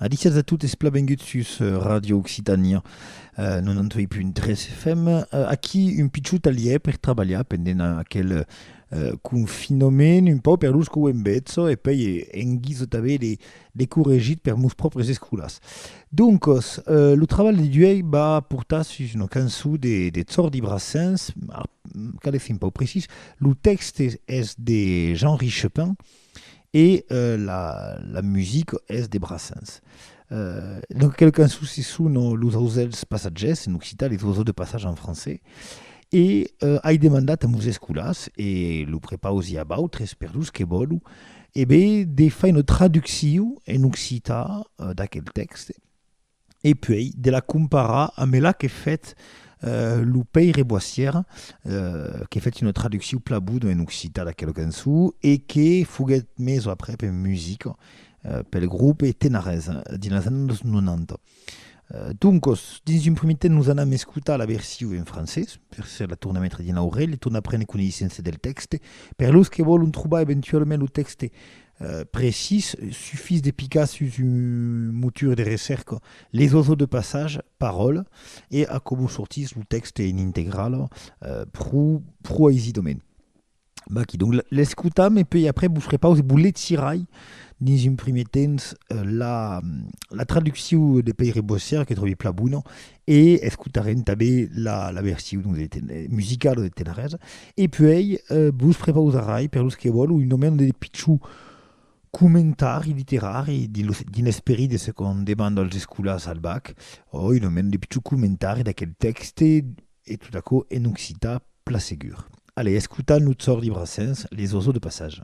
Adiciats a totes, plan vengut sus Radio Occitània 98.3 FM. Aquí un pichou talièr per trabalhar pendent aquel confinament, un pau per los que ho èm bètz e pei en guisa tanben de corregit per mos pròpres escolas. Doncos, lo trabalh de d'uèi va portar sus una cançó de Tsordi Brassens, cale fin pau precís, lo tèxte es de Jean-Richepin, E la musica es de Brassens. Dans aquela cançon se sonan los ausèls passatgèrs, en occitan, les oiseaux de passage en français. E ai demandat a meus escolars, e lo prepaus i a b'autres per los que vòlu, e ben, de far una traduccion en occitan d'aquel tèxte. e puèi de la comparar ambe la que fèt lo pèire Boissière, que fèt una traducciu plan bona en occitan d'aquela cançon e que foguèt mesa aprèp en musica pel grope Tenarès dins las annadas 90. Doncas, dins un primièr temps, nos anam escotar la version en francés, per se la tornar metre dins l'aurelha e tornar prene coneissença del tèxte. Per los que vòlon trobar eventualament lo tèxte Precís, sufís de picar sus un motor de recèrca Les oiseaux de passage, Parole e aquò sortís lo tèxte en integrala pro, pro aisidament. Vaquí donc, l'escotam e puèi après vos repause, vos lecirai dins un primièr temps la, la traduccion de Pèire Bossièr que tròbi plan bona e escotarem tanben la la version de ten, musicala de Tenaresa e puèi vos prepausarai per los que vòlon una mena de pichon comentari literari dins lo dins l'esperit de se qu'an demanda als escolars al bac o una mena de pichon comentari d'aquel tèxte e tot aquò en occitan plan segur. Allez, escotam lo Tzòrdi Brassens, Les oiseaux de passage.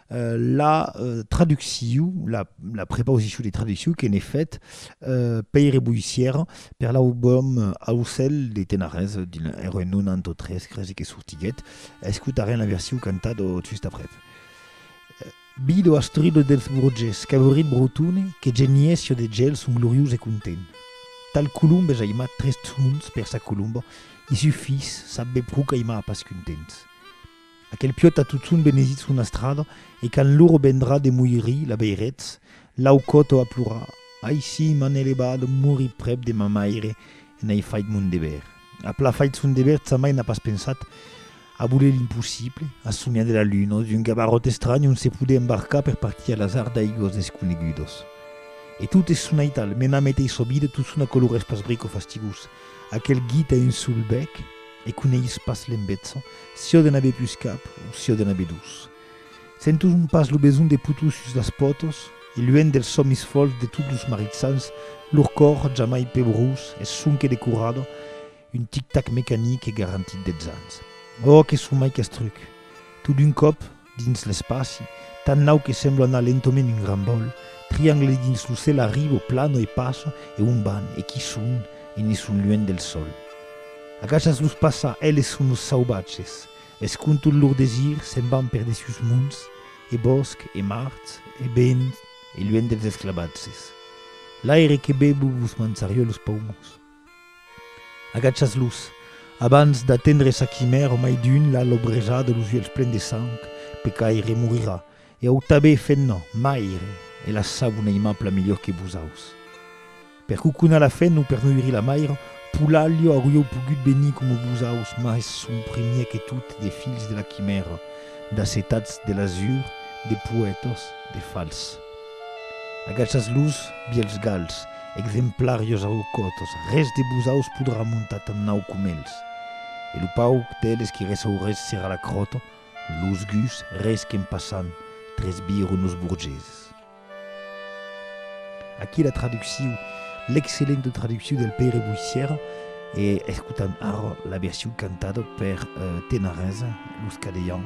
la traduccion, la, la prepausicion de traduccion que n'ai fet euh, Pèire Boissière, per l'aubòm Aucèl de Tenarés, de 1993, cresi que sortiguèt. Escotarem la version cantada just après. Bido astrudo dels Borges, qu'avurit Brotone, que genies jo de gel son gloriós e content. Tal colombe j'aimat tres tons per sa colomba, i su fils, sabbe pro qu'aimar pas contents. Aquel piòt a totun benesit son astrada e quand l'oro vendrà de moirir la veiretz, l'au còto a plorar, Ai si, m'an elevat, morir prèp de ma maire e n'ai fait mon dever. A pla fait son dever, sa mair n'a pas pensat a voler l'impossible, a somiar de la luna sus un gabaròt estranh ont se podè embarcar per partir a l'azard d'aigüas desconegudas. E tot es sonait al, mena meteissa vida totun a color espasbric o fastigós, aquel guit a un sol bèc, E coneis pas l'embetza, siò de n'aver pus cap o siò de n'aver dus. Senton pas lo besonh de putuz sus las pòtos, e luènh dels sòmis fòls de tots los maritsans, lor còr, jamai pebrós, es sonque de corrada, un tic-tac mecanic e garantit dètz ans. Òh, que son mai qu'estruc! Tot d'un còp, Dins l'espaci, tan nau que semblo anar lentoment un gran bòl, triangle dins lo cèl arribo, plano e passo, e on van? E qui son? E ne son luènh del sol. Agachas los passar, eles son los sauvatges, es con tot lor desir se'n van per dessus monts e bòsc e mars e vent e luènh dels esclavatges. L'aire que bevo vos manzarió los paumons. Agachas-los, abans d'atendre sa quimèra, o mai d'un l'a lobrejada los uelhs plens de sang, pecaire morirà, e au tabé fenna, maire, e la sabo n'aimap la melhor que vosaus. Per coconar la fenna o per noiri la maira, Polalha aurió pogut venir coma vosaus, mas son primier que tot de filhs de la quimèra, d'acetats de l'azur, de poètas, de fals. Agaçatz los vielhs gals, exemplarios aucòtos, res de busaus podrà montar tan naut com elhs. E lo pauc d'elhs qui ressaurètz serà la cròta, los guts, res qu'en passant, tresbiron los borgeses. Aquí la traducciu, l'excellenta traducciu del Pere Boissièra, e escotant ara la version cantada per Tenarèsa, los Cadeians,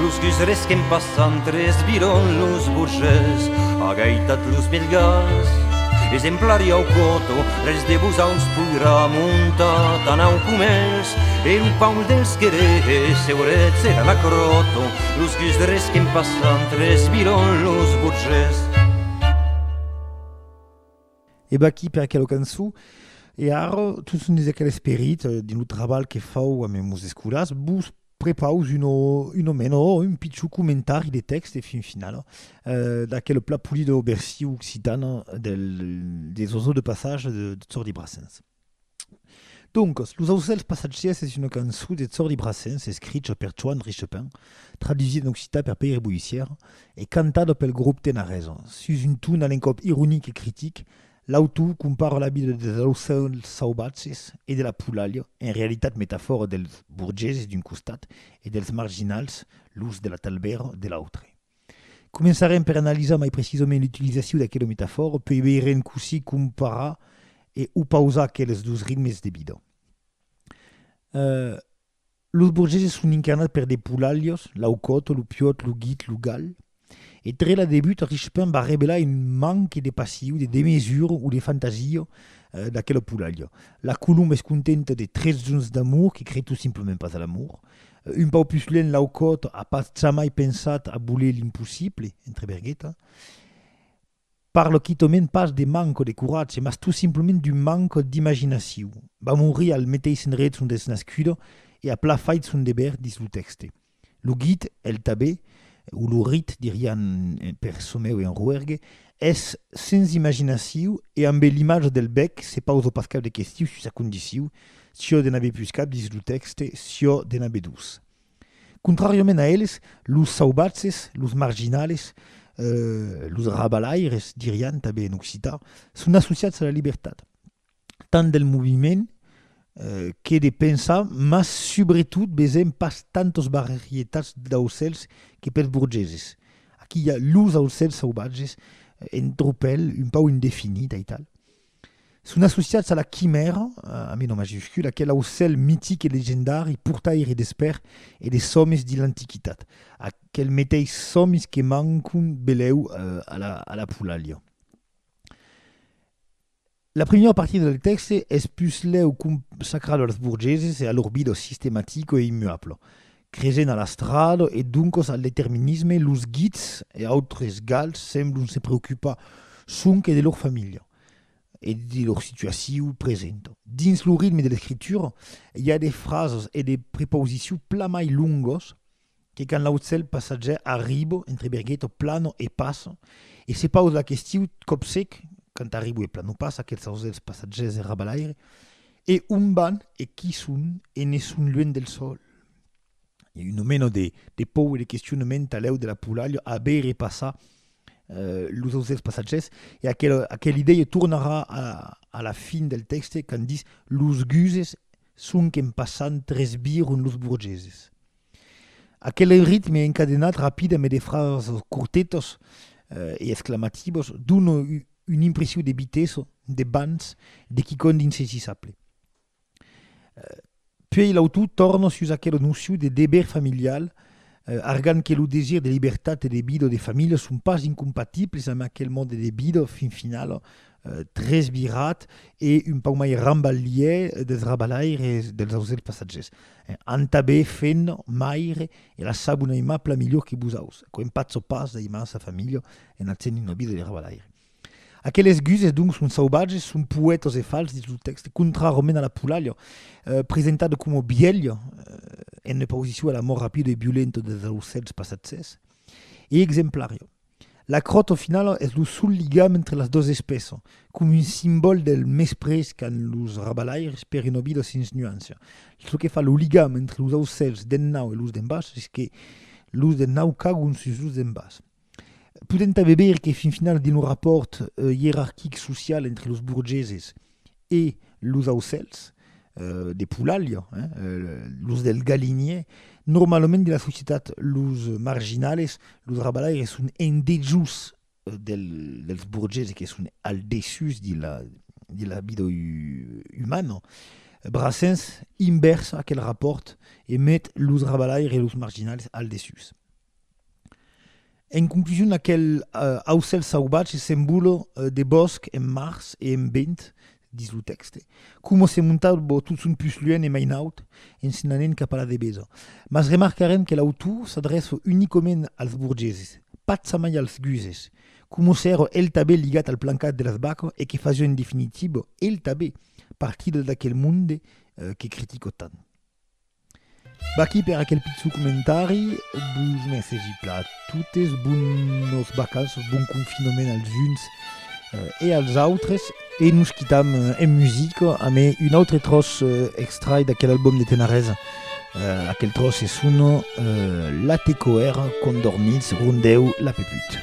Los dus resquèm passant tres viron los burgés agaitat los belgas exemplari au coto res de vos aus poirà montar tan au comés e lo paul dels querèe seurets era la croto los dus resquèm passant tres viron los burgés. E vaquí per aquela cançon. E ara, tot son des aquel esperit, dins lo trabalh que fau a mes escolas, vos Prepaus un o meno o un pichon comentari de tèxt e fin finala d'aquel plat polit o versiu occitan des oiseaux de passage de Jordi Brassens. Doncas, Los aucèls passatgièrs es una cançon de Jordi Brassens escricha per Joan Richepin, tradusida en occitan per Pèire Boissièr e cantada pel grop Tenaresa, sus un ton a l'encòp ironic e critic L'autor compara la vida dels aucèls sauvatges e de la polalha, en realitat metafòra dels borgeses d'un costat e dels marginals, los de la talbèra, de l'autre. Començarem per analisar mai precisament l'utilizacion d'aquela metafòra, puèi veirem cossí comparar e opausar aqueles dos ritmes de vida. Los borgeses son incarnats per de polalhos, l'aucòt, lo piòt, lo guit, lo gal. E tre la debuta Richepain va revelar un manque de passiu, de demesura o de fantasia d'aquela polalha. La colomba es contenta de tres jonhs d'amor que crei tot simplement pas a l'amor. Un pauc pus lent l'aucòt a pas jamai pensat a voler l'impossible, entre vergueta. Parlo quitòment pas de manco de coratge, mas tot simplement d'un manco d'imaginaciu. Va morir al meteis endrech ont es nascudo e a pla fait son deber dins lo tèxte. Lo git, el tabé, o lo rit, dirián per çò meu en roergue, es sens imaginaciu e ambe l'imatge del bèc se pauso pas cap de questiu sus sa condiciu, siò de n'aver pus cap dins lo tèxte, siò de n'aver dus. Contràriament a eles, los sauvatges, los marginales, los rabalaires, dirián tanben en occitan, son associats a la libertat, tant del moviment que de pensar, mas subretot vesèm pas tantas varietats d'aucèls que pels borgeses. Aquí i a los aucèls sauvatges, en tropèl, un pauc indefinits, aital. Son associats a la Quimèra, amb un O majuscul, aquel aucèl mitic e legendari portaire d'esper e de sòmis dins l'antiquitat, aquel meteis sòmis que mancon belèu a la Polalia. La primièra partida del tèxte es puslèu consacrada als borgeses e a lor vida sistematica e immuabla, Cresent a l'astrado e doncos al determinisme, los Guits e autres Gals semblon se preocupar sonque de lor familha e de lor situacion presenta. Dins lo ritme de l'escritura, i a de frasas e de prepausicion plan mai longos que quand l'aucèl passatjaire arriba entre Berghetto, Plano e passa e se pausa la question còpsec quand arriba e Plano passa, aquels ausèls passatjaires e rabalaires, e on van e qui son e ne son luènh del sòl? e un meno de, de pou e de questionament alèu de la Polaria a bé repassar eh, los autres passatges, e aquel, aquel idèia tornarà a, a la fin del tèxte quand dis los guses sonque en passant tresbiron los borgeses. Aquel ritme encadenat rapida me de frases curtetas eh, e exclamativas dona un impressiu de vitessa, de bans, de quicòm d'insaisissable. Puèi l'autor torna sus aquela nocion de deber familial, argant que lo desir de libertat e de vida de familha son pas incompatibles amb aquel mòde de vida fin final tresvirat e un pauc mai rambalhièr dels rabalaires dels ausèls passatgers. Antabè fèn maire e la sabon aimabla milhor que vos aus, quò empatza pas d'aimança familha en atzènt una vida de rabalaire. Aqueles guses, donc, son sauvatges, son poètos e fals dins lo tèxte, contrarament a la Pulàlia, presentada coma bièlha en oposicion a l'amor rapid e violent dels aucèls passatgèrs, e exemplària. La crotz, au final, es lo sol ligam entre las dos espèças, coma un simbòl del mesprés qu'an los rabalaires per una vida sens nuància. Çò que fa lo ligam entre los aucèls d'en naut e los d'en bas es que los d'en naut cagon sus los d'en bas. Podèm tanben veire que fin finals dins lo rapòrt ierarquic social entre los burgeses e los aucèls de polalha, los del galinier, normalament dins la societat los marginales, los rabalaires son en dejús dels burgeses que son al dessús de la de la vida umana. Brassens invèrsa aquel rapòrt e met los rabalaires e los marginales al dessús. En conclusion, aquel aucèl sauvatge s'envola de bòsc en març e en vent, dis lo tèxte, coma se montava tot son pus luènh e mai naut, en se'n anent cap a la devesa. Mas remarcarem que l'autor s'adrèça unicament als borgeses, patzamai als guses, coma s'èra el tanben ligat al plancat de las vacas e que fasiá en definitiva, el tanben, partida d'aquel monde que critica tant. Vaqui per aquel pitjor comentari, vos mercegi pla totes, bonos vacanços, bon confinament als uns e als autres, e nos quitam en musica amb un autre tròç extrai d'aquel album de Tenarez, aquel tròç se sona La Tecoèra, Condormits, Rondèu, La Peput.